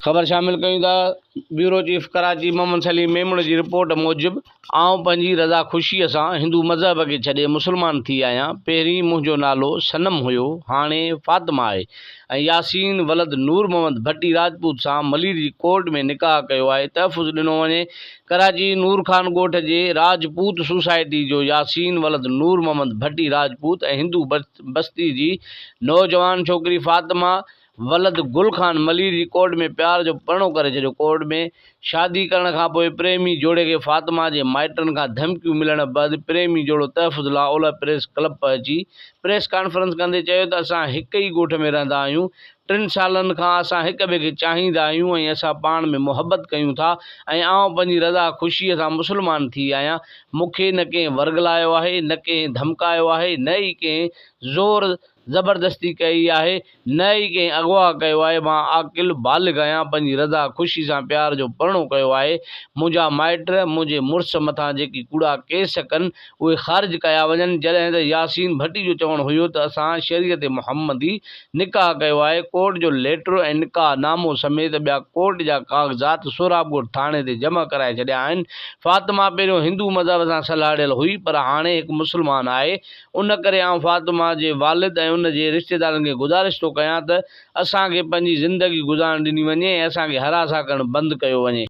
خبر شامل ڪيون ٿا بيورو چيف ڪراچي محمد سليم ميمڻ جي رپورٽ موجب آئون پنهنجي رضا خوشيء سان هندو مذهب کي ڇڏي مسلمان ٿي آهيان پهرين منهنجو نالو صنم هيو هاڻي فاطمه آهي ۽ ياسين ولد نور محمد ڀٽي راجپوت سان ملير جي ڪورٽ ۾ نڪاح ڪيو آهي تحفظ ڏنو وڃي ڪراچي، نور خان ڳوٺ جي راجپوت سوسائٽي جو ياسين ولد نور محمد ڀٽي راجپوت ۽ هندو بستي جي نوجوان ڇوڪري فاطمه ولد گل خان ملير جي ڪورٽ ۾ پيار جو پرڻو ڪري ڇڏيو ڪورٽ ۾ شادي ڪرڻ کانپوء پريمي جوڙي کي فاطمه جي مائٽن کان ڌمڪيون ملڻ بعد پريمي جوڙو تحفظ لاء اولهه پريس ڪلب پهچي پريس ڪانفرنس ڪندي چيو ته اسان هڪ ئي ڳوٺ ۾ رهندا آهيون ٽن سالن کان اسان هڪ ٻئي کي چاهيندا آهيون ۽ اسان پاڻ ۾ محبت ڪيون ٿا ۽ آئون پنهنجي رضا خوشيء سان مسلمان ٿي آهيان. مون کي نه ڪنهن ورغلايو آهي، نه ڪنهن ڌمڪايو آهي، نه ئي ڪنهن زور زبردستي ڪئي آهي، نه ئي ڪنهن اغوا ڪيو آهي. مان عاقل، بالغ آهيان، پنهنجي رضا خوشيء سان پيار جو پرڻو ڪيو آهي. منهنجا مائٽ منهنجي مڙس مٿان جيڪي ڪوڙا ڪيس ڪن، اهي خارج ڪيا وڃن جڏهن ته ياسين ڀٽي جو چوڻ هيو ته اسان شريعت محمدي نڪاح ڪيو آهي ڪورٽ جو ليٽر ۽ نڪاح نامو سميت ٻيا ڪورٽ جا ڪاغذات سهراب ڳوٺ ٿاڻي تي جمع ڪرائي ڇڏيا آهن فاطمه پهريون هندو مذهب سان سلهاڙيل هئي پر هاڻي هڪ مسلمان آهي ان ڪري آئون فاطمه جي والد ۽ ان جي رشتيدارن کي گذارش ٿو ڪيان ته اسان کي پنهنجي زندگي گذارڻ ڏني وڃي ۽ اسان کي هراسان ڪرڻ بند ڪيو وڃي.